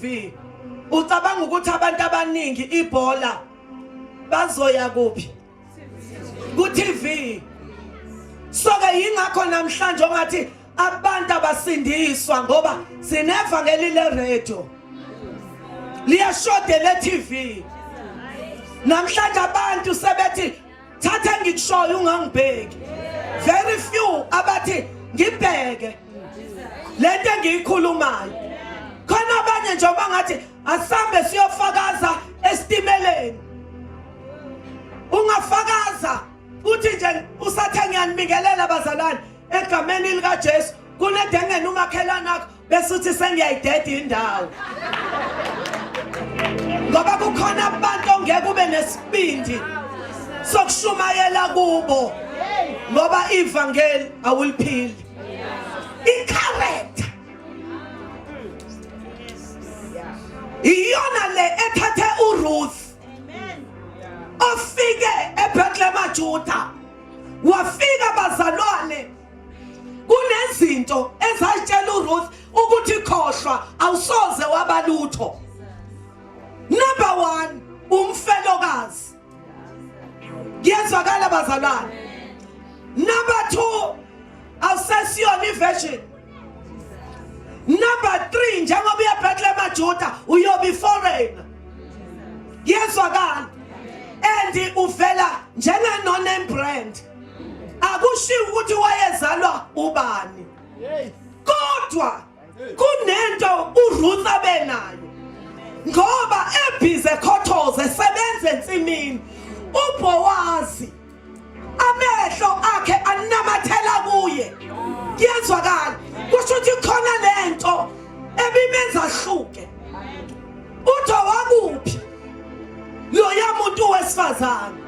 V, Ucabanga ukuthi abantu abaningi ibhola bazoya kuphi? Ku-TV. Soke yingakho namhlanje ongathi abantu abasindiswa ngoba sinevangeli leradio liyashoda le-TV namhlanje abantu sebethi thatha engikushoyo ungangibheki very few abathi ngibheke lento engiyikhulumayo khona abanye nje bangathi asambe siyofakaza esitimeleni ungafakaza uthi nje usathe ngiyanibingelela bazalwane egameni likaJesu kunedengene umakhelana wakho bese uthi sengiyayideda indawo ngoba kukhona abantu ongeke ube nesibindi sokushumayela kubo ngoba ivangeli awuliphili i-character iyona le ethathe uRuth ofike eBethlehem Juda wafika bazalwane kunezinto ezayitshela uRuth ukuthi khohlwa awusoze wabalutho number 1 umfelokazi kuyezwakala bazalwane number 2 awusesiyona iversion number 3 njengoba uya Bethlehem aJuda uyobe foreigner yezwakala and uvela njenganoname brand akushiwo ukuthi wayezalwa ubani kodwa kunento uRuth abenayo ngoba ebhize khothoze sebenze ensimini uBowazi amehlo akhe anamathela kuye kuyezwakala kusho ukuthi khona lento ebimenza hluke uthi wakuphi loya muntu wesifazane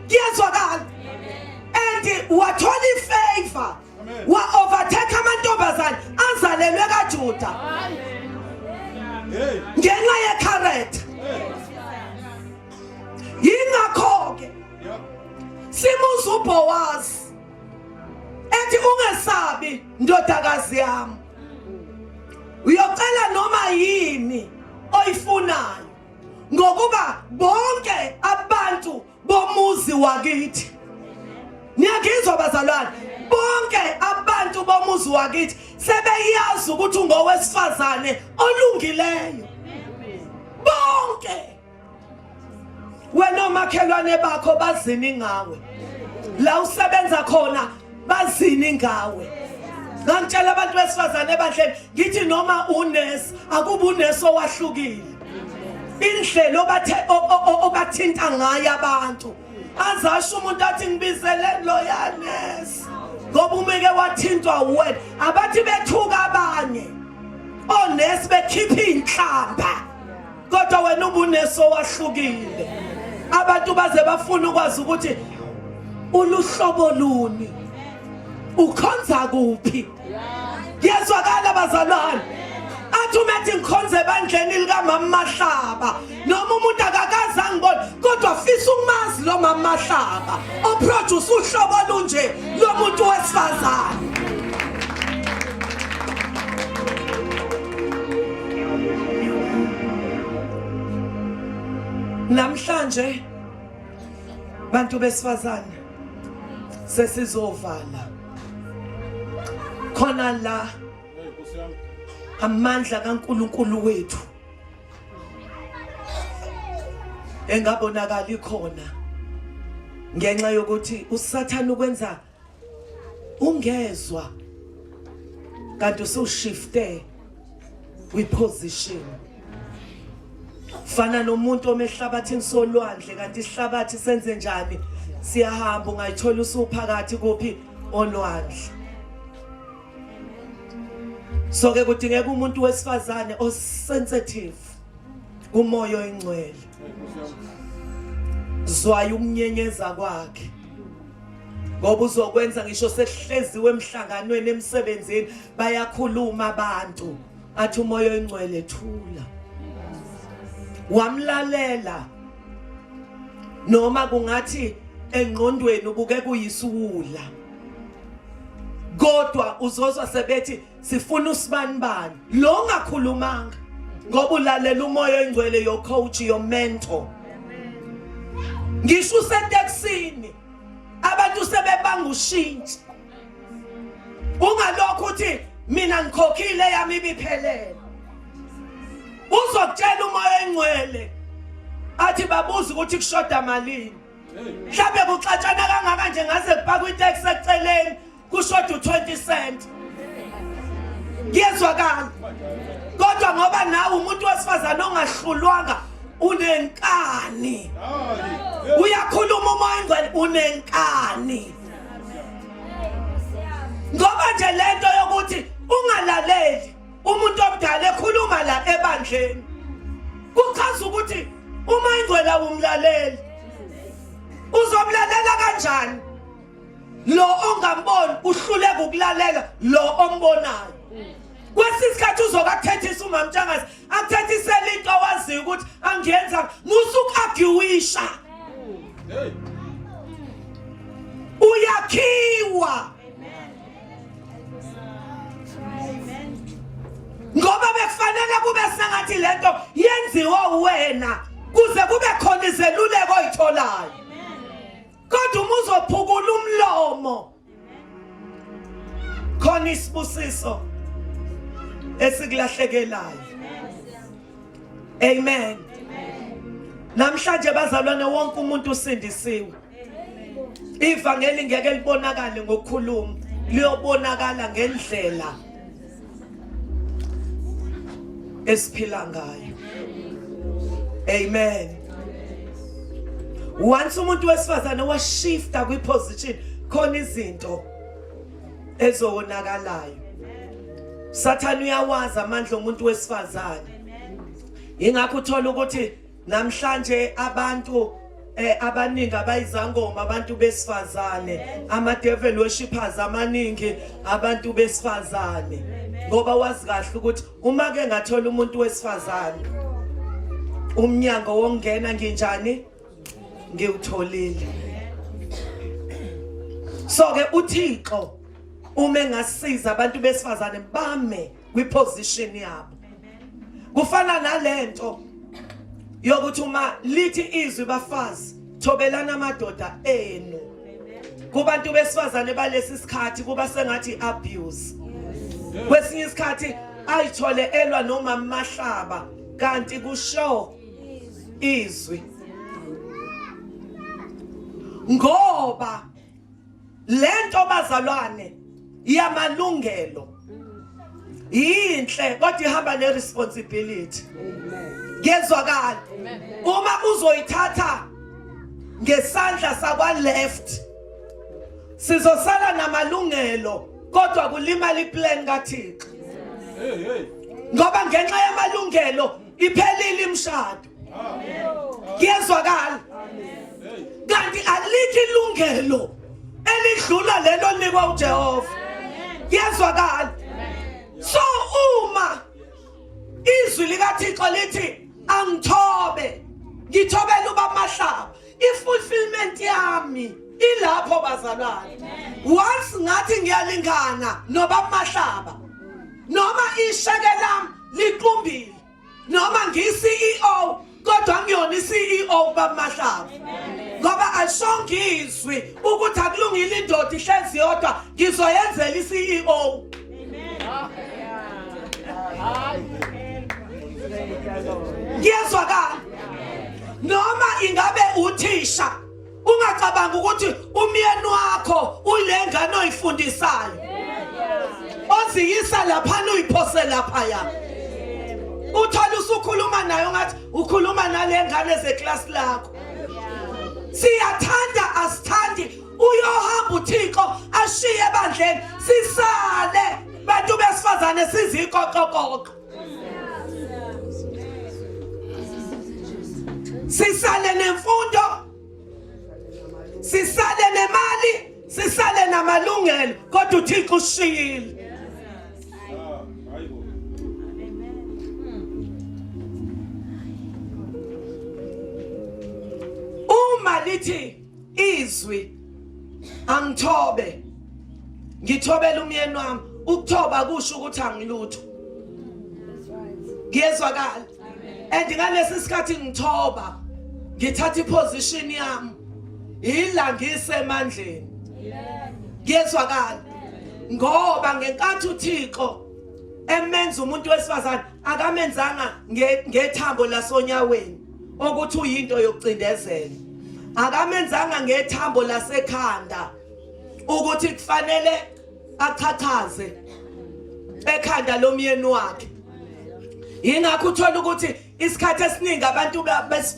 kuyezwakala and wathola ifavor wa overtake amantombazane azalelwe kaJuda ngenxa yekharetha yingakho ke simuza uBowazi ethi ungesabi ndodakazi yami uyocela noma yini oyifunayo ngokuba bonke abantu bomuzi wakithi niyangizwa bazalwane bonke abantu bomuzi wakithi sebeyazi ukuthi ungowesifazane olungileyo bonke wena omakhelwane bakho bazini ngawe la usebenza khona bazini ngawe ngangitshela abantu besifazane ebandleni ngithi noma unesi akuba unesi owahlukile indlela obathinta ngayo abantu azasho umuntu athi ngibizele loyanesi ngoba umeke wathintwa wena abathi bethuka abanye onesi bekhipha iy'nhlamba kodwa wena ubuneso wahlukile abantu baze bafuna ukwazi ukuthi uluhlobo luni ukhonza kuphi yezwakala bazalwane athi umethi ngikhonze ebandleni likamama mahlaba noma umuntu akakaze angibona kodwa fisa ukumazi lo mama mahlaba oproduce uhlobo olunje lomuntu wesifazane Namhlanje bantu besifazane sesizovala khona la amandla kaNkuluNkulu wethu engabonakali khona ngenxa yokuthi usathana ukwenza ungezwa kanti usushifte kwiposition fana nomuntu omehlabathini solwandle kanti isihlabathi senze njani siyahamba ungayithola usuphakathi kuphi olwandle so ke kudingeka umuntu wesifazane osensitive kumoya oyingcwele zwayo ukunyenyeza kwakhe ngoba uzokwenza ngisho sekuhleziwe emhlanganweni emsebenzini bayakhuluma abantu athi umoya oyingcwele thula wamlalela noma kungathi engqondweni ubuke kuyisuwula kodwa uzozwa sebethi sifuna usibanibani lo ngakhulumanga ngoba ulalela umoya oyingcwele yocoach yomentor ngisho useteksini abantu sebebanga ushintshi ungalokho uthi mina ngikhokhile yami ibiphelele uzokutshela umoya engcwele athi babuza ukuthi kushoda malini mhlawumbe kuxatshana kangaka nje ngaze kupaka itaxi eceleni kushoda u-20 cent ngiyezwakala kodwa ngoba nawe umuntu wesifazane ongahlulwanga unenkani uyakhuluma umoya ingcwele unenkani ngoba nje lento yokuthi ungalaleli umuntu omdala ekhuluma la ebandleni kuchaza ukuthi uma ingcwele awumlaleli uzomlalela kanjani lo ongamboni uhluleka ukulalela lo ombonayo kwesinye isikhathi uzoke akuthethise umamtshangazi akuthethisele into owaziyo ukuthi angiyenza musuku-agiwisha uyakhiwa ngoba bekufanele kube sengathi le nto yenziwa wena kuze kube khona izeluleko oyitholayo kodwa uma uzophukula umlomo khona isibusiso esikulahlekelayo amen namhlanje bazalwane wonke umuntu usindisiwe ivangeli ngeke libonakale ngokukhuluma liyobonakala ngendlela esiphila ngayo amen once umuntu wesifazane washifta kwi position khona izinto ezowonakalayo sathane uyawazi amandla omuntu wesifazane ingakho uthola ukuthi namhlanje abantu eh abaningi abayizangoma abantu besifazane ama devil worshippers amaningi abantu besifazane ngoba wazi kahle ukuthi uma ke ngathola umuntu wesifazane umnyango wongena nginjani ngiwutholile so ke uThixo uma engasiza abantu besifazane bame kwiposition yabo kufana nalento yokuthi uma lithi izwi bafazi thobelana amadoda enu kubantu besifazane balesi sikhathi kuba sengathi abuse kwesinye isikhathi ayithole elwa noma mahlaba kanti kusho izwi ngoba lento bazalwane yamalungelo yinhle kodwa ihamba ne responsibility ngezwakala uma uzoyithatha ngesandla sakwa left sizosala namalungelo kodwa kulimala iplan kaThixo ngoba ngenxa yamalungelo iphelile imshado kuyezwakala kanti alikho ilungelo elidlula lelo linikwa uJehova kuyezwakala so uma izwi likaThixo lithi angithobe ngithobela ubamahlaba ifulfillment yami ilapho bazalwane once ngathi ngiyalingana nobamahlaba noma isheke lami liqumbile noma ngiyi-ceo kodwa ngiyona i-ceo bamahlaba ngoba alishonke izwi ukuthi akulungile indoda ihlezi yodwa ngizoyenzela i-ceo ngiyezwakala noma ingabe uthisha Ungacabanga ukuthi umyeni wakho ulengane oyifundisayo. Oziyisa lapha uyiphose lapha ya. Uthola usukhuluma nayo ngathi ukhuluma nalengane zeclass lakho. Siyathanda asithandi uyohamba uThixo ashiye ebandleni sisale bantu besifazane sizikoqokoqo. sisale nemfundo sisale nemali sisale namalungelo kodwa uthixo ushiyile uma lithi izwi angithobe ngithobela umyeni wami ukuthoba kusho ukuthi angilutho ngiyezwakala and ngalesi sikhathi ngithoba ngithatha iposition yami yila ngisemandleni ngiyezwakala ngoba ngenkathi uThixo emenza umuntu wesifazane akamenzanga ngethambo lasonyaweni okuthi uyinto yokucindezela akamenzanga ngethambo lasekhanda ukuthi kufanele achathaze ekhanda lomyeni wakhe yingakho uthola ukuthi isikhathi esiningi abantu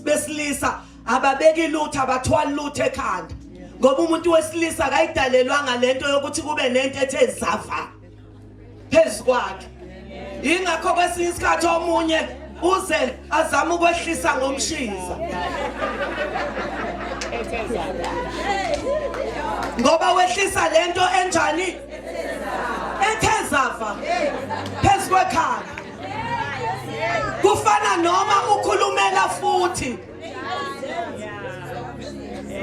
besilisa ababeki lutho abathwali lutho ekhanda ngoba umuntu wesilisa akayidalelwanga lento yokuthi kube nento ethe zava phezu kwakhe yingakho kwesinye isikhathi omunye uze azama ukwehlisa ngomshiza ngoba wehlisa lento enjani ethezava phezu kwekhaya kufana noma ukhulumela futhi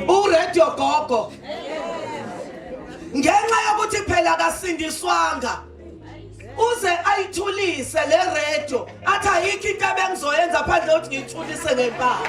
uradio gogo ngenxa yokuthi phela kasindiswanga uze ayithulise le radio athi ayikho into abengizoyenza phandle ukuthi ngiyithulise ngempama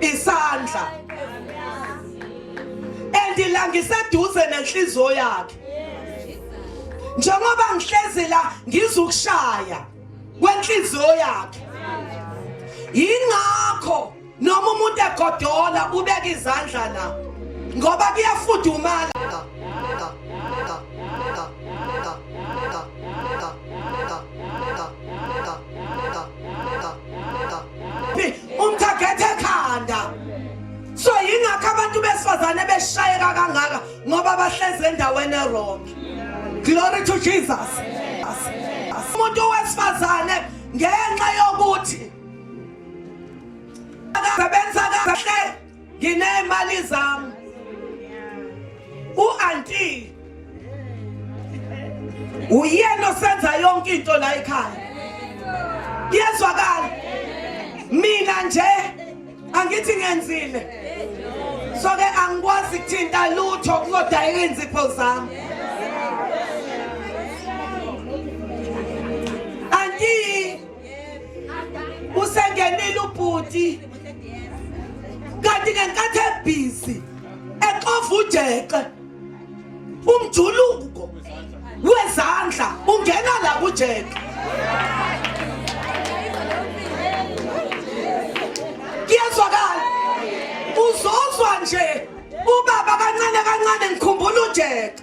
isandla and la ngiseduze nenhliziyo yakhe njengoba ngihlezi la ngizukushaya kwenhliziyo yakhe yingakho noma umuntu egodola ubeka izandla la ngoba kuyafudumala umthaghethe ekhanda so yingakho abantu besifazane beshayeka kangaka ngoba bahlezi endaweni erong glory to jesus umuntu wesifazane ngenxa yokuthi akasebenza kahle nginemali zami u-anti uyena osenza yonke into la ekhaya yezwakala mina nje angithi ngenzile so ke angikwazi kuthinta lutho kuzodayeka iinzipho zami anti usengenile ubhuti kanti ngenkathi ebhizi exova ujeqe umjuluko wezandla ungena la kujeqe kuyezwakala uzozwa nje ubaba kancane kancane ngikhumbula ujeqe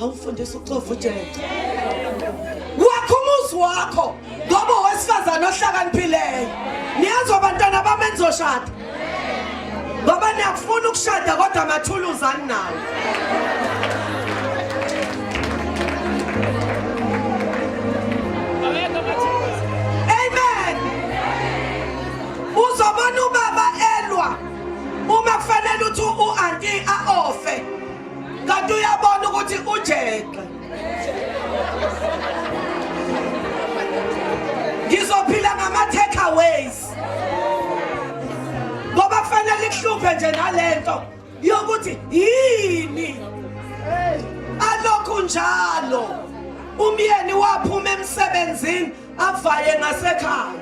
awufundisa uxova ujeje wakho umuzi wakho ngoba owesifazane ohlakaniphileo niyazi abantwana bami enizoshada ngoba niyakufuna ukushada kodwa amathuluzi aninawo kanti uyabona ukuthi ujexe ngizophila ngama-takeaways ngoba kufanele ikuhluphe nje nalento yokuthi yini alokhu njalo umyeni waphuma emsebenzini avaye ngasekhaya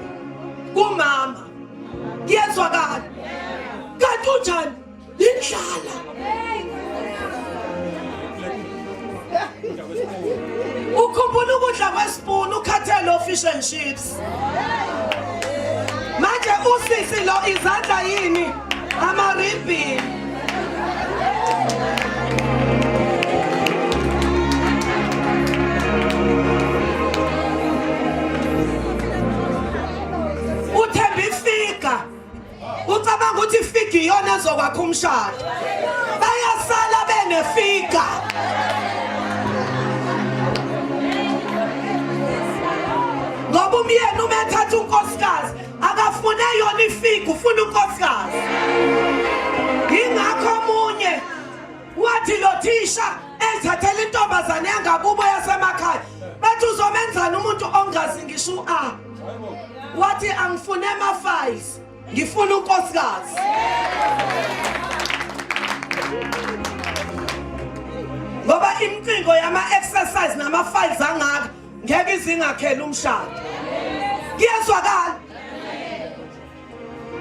kumama kuyezwakala kanti unjani indlala ukhumbula ukudla kwesipuni ukhathele ofish and chips manje usisi lo izandla yini amaribhini ucabanga ukuthi ifiga iyona ezokwakha umshado bayasala benefiga ngoba umyeni uma ethatha unkosikazi akafune yona ifiga ufuna unkosikazi wathi lo thisha ezithathela intombazane yangakubo yasemakhaya bathi uzomenzani umuntu ongazi ngisho u-a wathi angifune ama-files ngifuna unkosikazi ngoba imcingo yama-exercise nama-files angaka ngeke izingakhela umshado kuyezwakala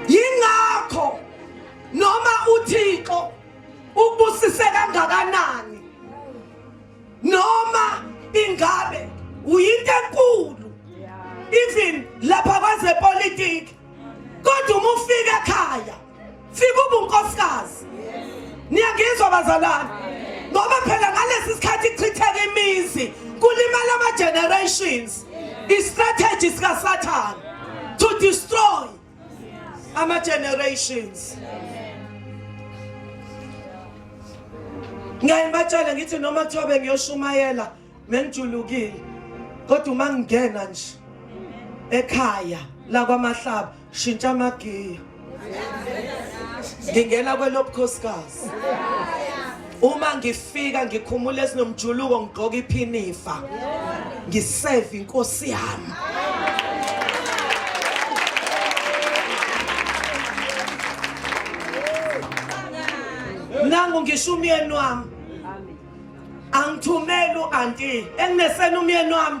yingakho noma uthixo Ubusise kangakanani? Noma ingabe uyinto enkulu even lapha kwezepolitiki kodwa uma ufika ekhaya fika ubunkosikazi niyangizwa bazalwane ngoba phela ngalesi sikhathi kuchitheka imizi kulimala ama-generations i-strategy sikasathane to destroy ama generations ngiyaye ngibatshele ngithi noma kuthiwa bengiyoshumayela bengijulukile kodwa uma ngingena nje ekhaya lakwamahlaba shintsha amagiya ngingena kwelobukhosikazi uma ngifika ngikhumula esinomjuluko ngigqoka iphinifa ngiseve inkosi yami nangu ngisho umyeni wami angithumeli u-anti enginesena umyeni wami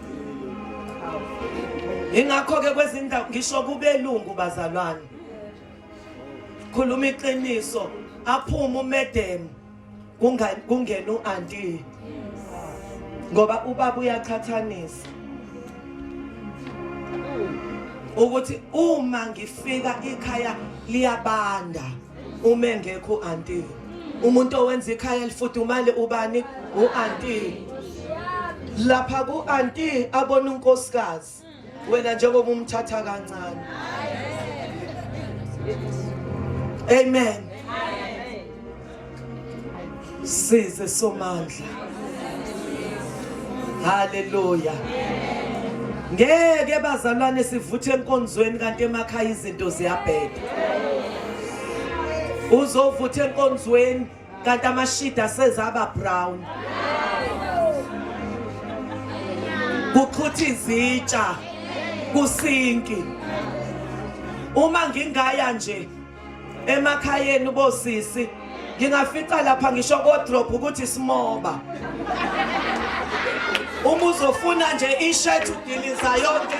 ingakho-ke kwezindawo ngisho kubelungu bazalwane khuluma iqiniso aphume umedemu kungena u-anti ngoba ubaba uyaqhathanisa ukuthi uma ngifika ikhaya liyabanda uma engekho u-anti umuntu owenza ikhaya elifudumale ubani u-anti lapha ku-anti abona unkosikazi wena njengoba umthatha kancane amen Size somandla. Hallelujah. Ngeke bazalwane sivuthe enkonzweni kanti emakhaya izinto ziyabheda. Uzovutha enkonzweni kanti amashida asezaba brown. Kuqhutha izitsha kusinki. Uma ngingaya nje emakhayeni bosisi ngingafica lapha ngisho kodrop ukuthi simoba uma uzofuna nje ishirt udiliza yonke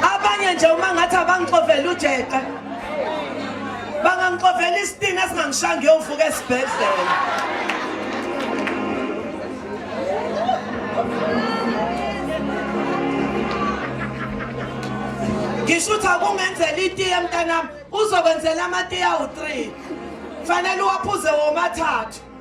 abanye nje uma ngathi abangixovela ujeqe bangangixovela isitini esingangishaya ngiyomfuka esibhedlela ngisho ukuthi akungenzela itiye mntanami uzokwenzela amatiye awu-three kufanele uwaphuze womathathu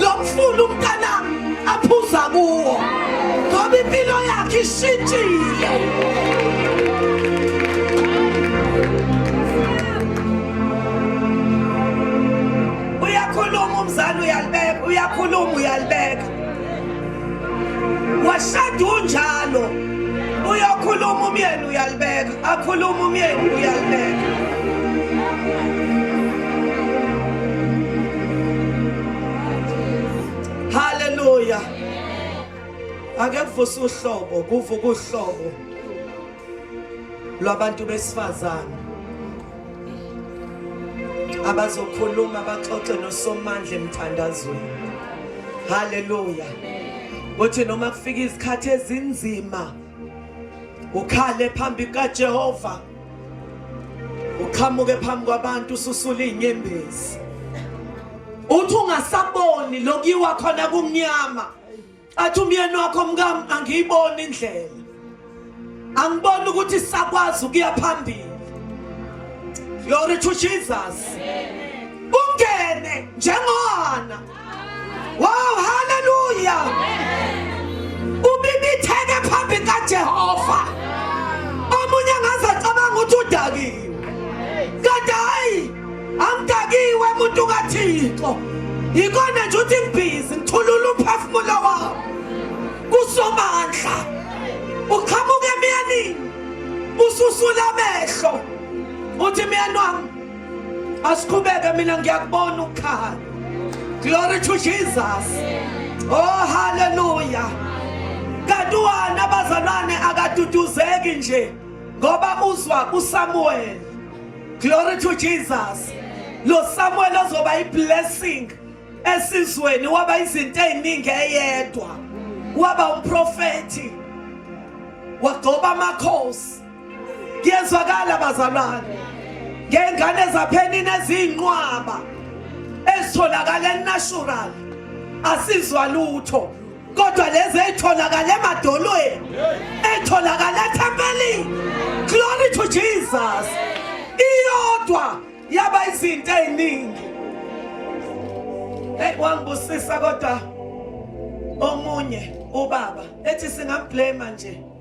lo mfula umntanami aphuza kuwo ngoba impilo yakhe ishintshile uyakhuluma umzali uyalibeka uyakhuluma uyalibeka washada unjalo uyokhuluma umyeni uyalibeka akhuluma umyeni uyalibeka haleluya ake kuvuse uhlobo kuvuka uhlobo lwabantu besifazane abazokhuluma baxoxe nosomandla emthandazweni haleluya kuthi noma kufika izikhathi ezinzima ukhale phambi kaJehova uqhamuke phambi kwabantu ususula inyembezi uthi ungasaboni lokuyiwa khona kumnyama athi umyeni wakho mkami angiyiboni indlela angiboni ukuthi sakwazi ukuya phambili glory to jesus ungene njengona Wow, haleluya! Ubibitheke phambi kaJehova. Omunye ngaze cabanga ukuthi udakiwe. Kanti hayi, angidakiwe umuntu kaThixo. Yikona nje uthi ngibhizi ngithulula umphefumulo wami. Kusomandla. Uqhamuke emyanini. Ususula amehlo. Uthi myeni wami asiqhubeke mina ngiyakubona ukukhala glory to jesus oh haleluya kanti uwana abazalwane akaduduzeki nje ngoba uzwa usamuweli glory to jesus lo samuweli ozoba i-blessing esizweni waba izinto ey'ningi eyedwa waba umprofethi wagcoba amakhosi kuyezwakala bazalwane ngey'ngane ezaphenini eziyinqwaba ezitholakala enatural asizwa lutho kodwa lezi ey'tholakala emadolweni ey'tholakala ethempelini glory to jesus iyodwa yaba izinto ey'ningi eyi wangibusisa kodwa omunye ubaba ethi singamblema nje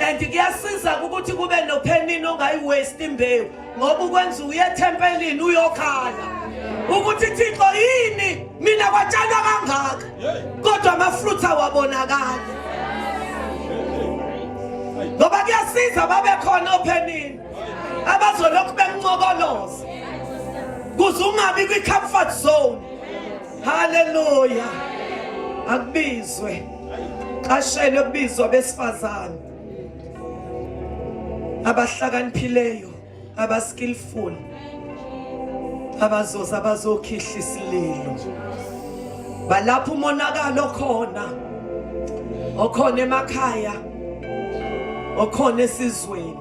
and kuyasiza ukuthi kube nophenini ongayiwaste imbewu ngoba ukwenza uye ethempelini uyokhala ukuthi thixo yini mina kwatshalwa kangaka kodwa amafruthi awabonakali ngoba kuyasiza babekhona ophenini abazolokhu bengincokoloza kuze ungabi kwi-comfort zone haleluya akubizwe qashele kubizwa besifazane abahlakaniphileyo abaskillful abazoza abazokhihla isililo balapha umonakalo khona okhona emakhaya okhona esizweni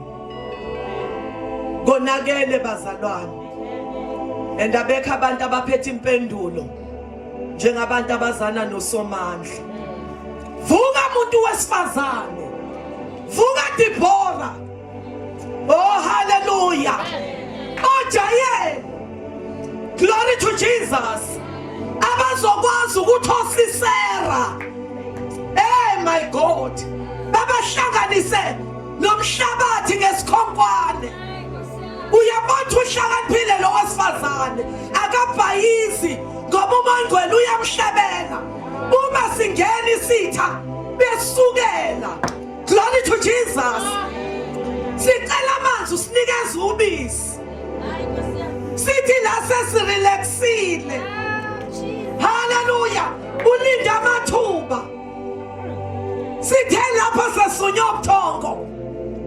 konakele bazalwane and abekho abantu abaphethe impendulo njengabantu abazana nosomandla vuka muntu wesifazane vuka Dibora oh haleluya ojayele glory to Jesus abazokwazi ukuthi osisera hey my god babahlanganise nomhlabathi ngesikhonkwane uyabathi uhlakaniphile lo wesifazane akabhayizi ngoba umangcwele uyamhlabela uma singena isitha besukela glory to jesus sicela amanzi usinikeza ubisi sithi la sesirelaxile haleluya ulinda amathuba sithe lapho sesunywe ubuthongo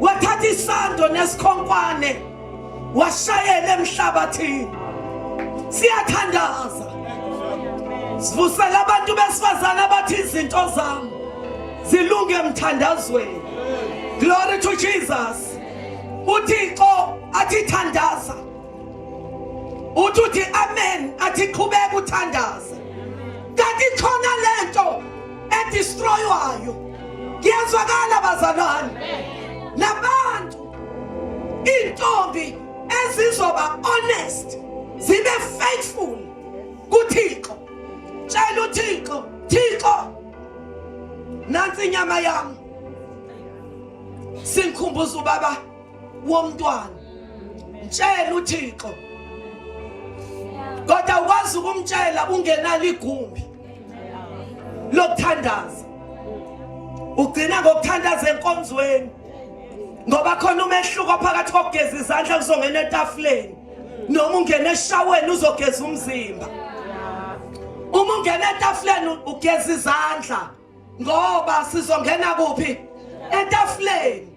wathatha isando nesikhonkwane washayela emhlabathini siyathandaza sivusela abantu besifazane abathi izinto zami zilunge emthandazweni glory to jesus uthixo athi thandaza uthi uthi amen athi qhubeka uthandaze kanti khona lento edestroywayo kuyezwakala bazalwane labantu intombi ezizoba honest zibe faithful kuThixo tshela uThixo Thixo nansi inyama yami singikhumbuza ubaba womntwana mtshela uthixo kodwa ukwazi ukumtshela ungenalo igumbi lokuthandaza ugcina ngokuthandaza enkonzweni ngoba khona umehluko phakathi kokugeza izandla kuzongena etafuleni noma ungena eshaweni uzogeza umzimba uma ungena etafuleni ugeza izandla ngoba sizongena kuphi etafuleni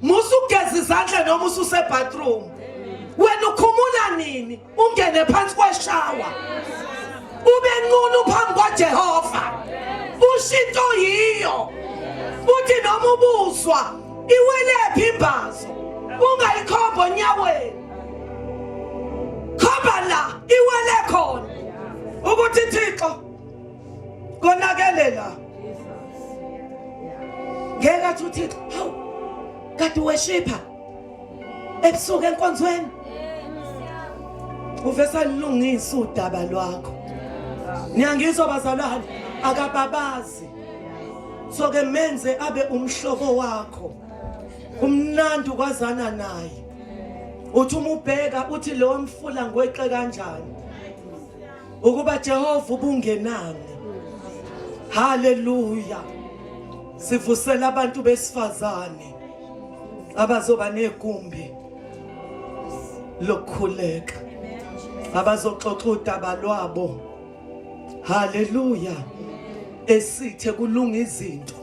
musa ugeza izandla noma ususebathroom wena ukhumula nini ungene phansi kweshawa ube nqunu phambi kwajehova ushintsho yiyo uthi noma ubuzwa iwelephi imbazo ungayikhomba onyaweni khomba la iwele khona ukuthi thixo konakele la ngeke athi uthixo hawu kade weshipha ebusuku enkonzweni uvesa lilungisa udaba lwakho niyangizwa bazalwane akababazi so ke menze abe umhlobo wakho umnandi ukwazana naye uthi umubheka uthi leyo mfula ngweqe kanjani ukuba Jehova ubungenani haleluya sivusela abantu besifazane abazoba negumbi lokukhuleka abazoxoxa udaba lwabo haleluya esithe kulunga izinto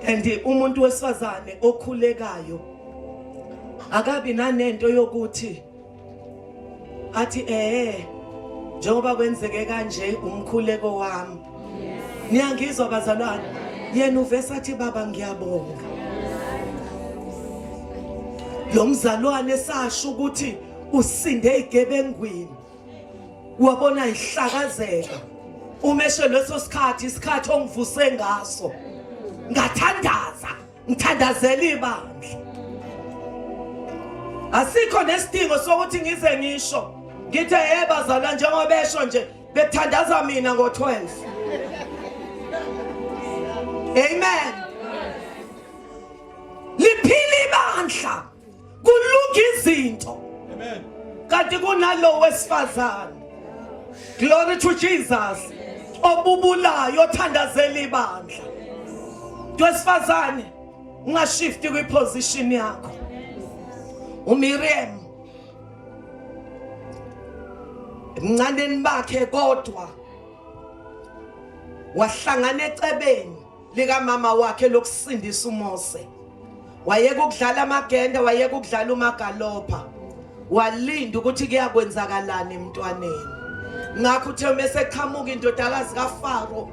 and umuntu wesifazane okhulekayo akabi nanento yokuthi athi eh njengoba kwenzeke kanje umkhuleko wami niyangizwa bazalwane yena uvese athi baba ngiyabonga lo mzalwane sasho ukuthi usinde igebengwini wabona ihlakazeka umeshe leso sikhathi isikhathi ongivuse ngaso ngathandaza ngithandazela ibandla asikho nesidingo sokuthi ngize ngisho ngithe hey bazalwa njengoba besho nje bethandaza mina ngo-12 amen liphila ibandla kulunga izinto kanti kunalowo wesifazane glory to jesus obubulayo othandazela ibandla wesifazane ungashifti kwiposition yakho umiriam emncaneni bakhe kodwa wahlangana ecebeni likamama wakhe lokusindisa uMose. Wayeka ukudlala amagende, wayeka ukudlala umagalopha. Walinda ukuthi kuyakwenzakalani emntwaneni. Ngakho uthe uma eseqhamuka indodakazi kaFaro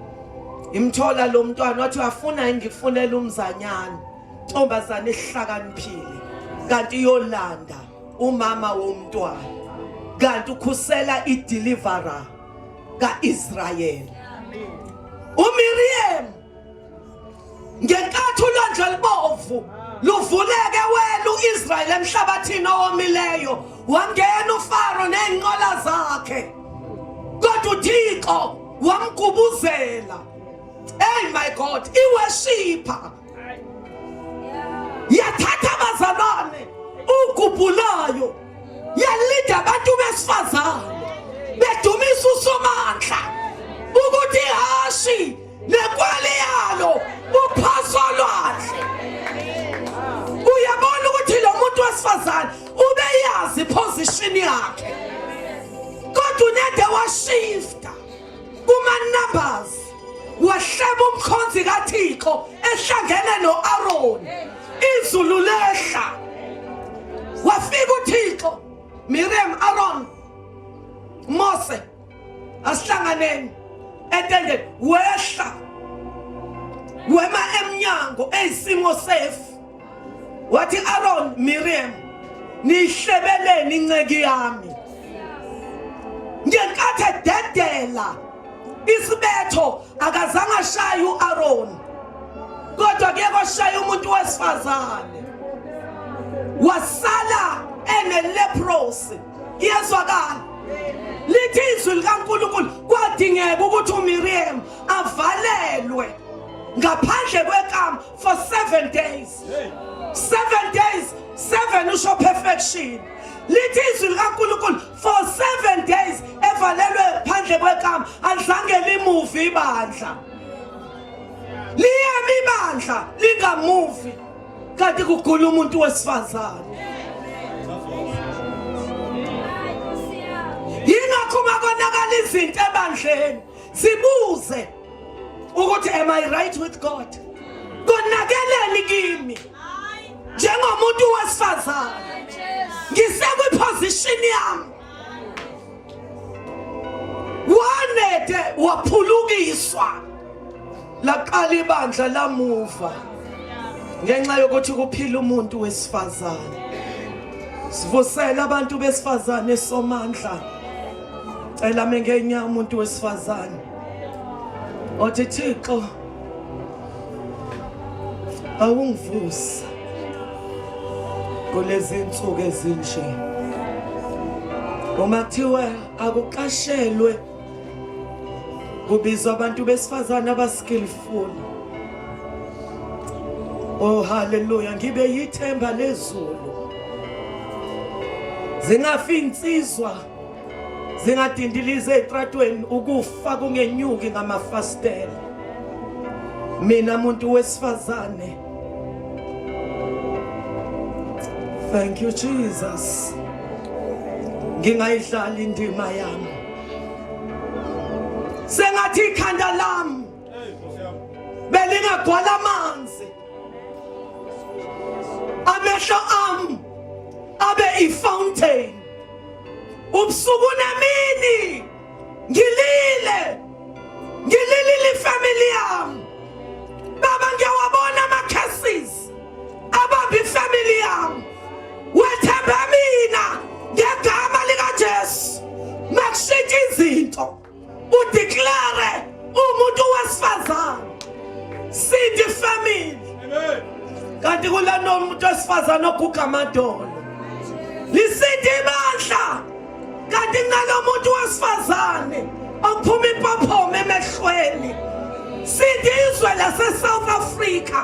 imthola lo mntwana wathi uyafuna ngifunela umzanyana. Ntombazane ihlakaniphile kanti iyolanda umama womntwana. Kanti ukhusela ideliverer. kaIsrayeli uMiriam ngenkathi ulwandle olubovu luvuleke wena uIsrael emhlabathini owomileyo wangena uFaro nezinqola zakhe kodwa uThixo wamgubuzela hey my god iweshipa yathatha abazalwane ugubhulayo yalinda abantu besifazane bedumisa usomandla ukuthi hashi nekwali yalo uphaswa lwandle uyabona ukuthi lo muntu wesifazane ubeyazi position yakhe kodwa unede washifta Kuma-Numbers wahleba umkhonzi kaThixo ehlangene no-Aroni izulu lehla wafika uThixo Miriam Aaron Mose asihlanganeni etendeni wehla wema emnyango eyisimo sefu wathi Aaron Miriam nihlebeleni inceki yami ngenkathi ededela isibetho akazange ashaye u-Aaron kodwa kuye kwashaya umuntu wesifazane wasala eneleprosi iyezwakala lithi izwi likaNkulunkulu kwadingeka ukuthi uMiriam avalelwe ngaphandle kwekama for 7 days 7 days 7 usho perfection lithi izwi likaNkulunkulu for 7 days evalelwe phandle kwekama alizange limuvi ibandla liyami ibandla lingamuvi kanti kugula umuntu wesifazane yingakho uma konakala izinto ebandleni Sibuze ukuthi am I right with God? Konakeleni kimi? Njengomuntu wesifazane. Ngisekwi position yami. Wanede waphulukiswa. Laqala ibandla lamuva. Ngenxa yokuthi kuphila umuntu wesifazane. Sivusela abantu besifazane somandla. cela mengenya umuntu wesifazane othi thixo awungivusa kulezi nsuku ezinje uma kuthiwa akuqashelwe kubizwa abantu besifazane abaskillful oh haleluya ngibe yithemba lezulu zingafi insizwa zingadindiliza ezitratweni ukufa kungenyuki ngamafastela mina muntu wesifazane thank you jesus ngingayidlali indima yami sengathi ikhanda lami belingagwala amanzi amehlo ami abe ifountain ubusuku nemini ngilile ngililile ifamily yami baba ngiyawabona ama-cases abamba ifamily yami wethembe mina ngegama likajesu makushintsha izinto udeclare umuntu wesifazane sindi family kanti kulana umuntu wesifazane oguga amadolo lisindi ibandla kanti kunalo muntu wesifazane ophuma ipophoma emehlweni sindi izwe lasesouth africa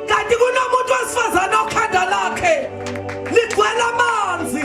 kanti kunomuntu wesifazane okhanda lakhe ligcwele amanzi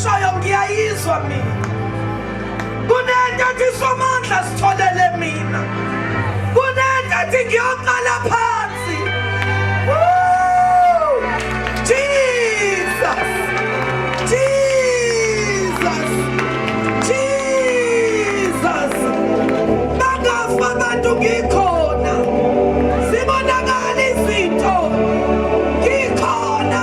Shoyo ngiyayizwa mina. Kunento ethi somandla sitholele mina. Kunento ethi ngiyoqala phansi. Woo! Jesus! Jesus! Jesus! Bangafa abantu ngikhona. Sibonakala izinto. Ngikhona.